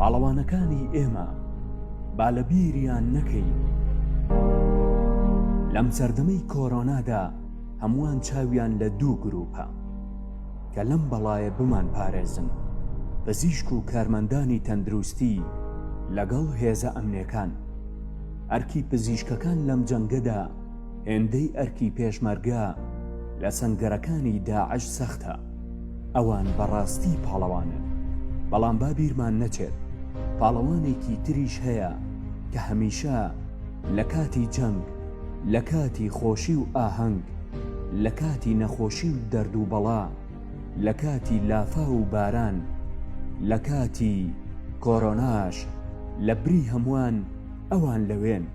پاڵەوانەکانی ئێمە با لە بیریان نەکەین لەم سەردەمەی کۆرۆنادا هەمووان چاویان لە دوو گروپە کە لەم بەڵایە بمان پارێزن پزیشک و کارمەندانی تەندروستی لەگەڵ هێزە ئەمنەکان ئەرکی پزیشکەکان لەم جەنگەدا هێندەی ئەرکی پێشمەرگە لە سەنگەرەکانی داعش سەختە، ئەوان بەڕاستی پاڵەوانن، بەڵام با بیرمان نەچێت پاڵەوانێکی تریش هەیە کە هەمیشە لە کاتی جەنگ، لە کاتی خۆشی و ئاهەنگ، لە کاتی نەخۆشی و دەرد و بەڵا، لە کاتی لافاو و باران، لە کاتی کۆرۆناش لە بری هەمووان، ئەوان لەوێن.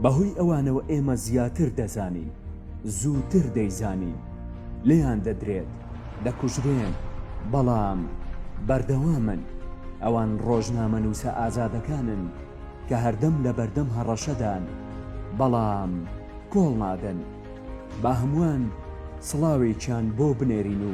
بەهۆی ئەوانەوە ئێمە زیاتر دەزانین. زووتر دەیزانین. لێیان دەدرێت. دەکوژرێن. بەڵام بەردەوامن. ئەوان ڕۆژنامەنووسە ئازادەکانن کە هەردەم لەبەردەم هەڕەشەدان. بەڵام کۆڵنادەن. با هەمووان سڵاوێکیان بۆ بنێرین و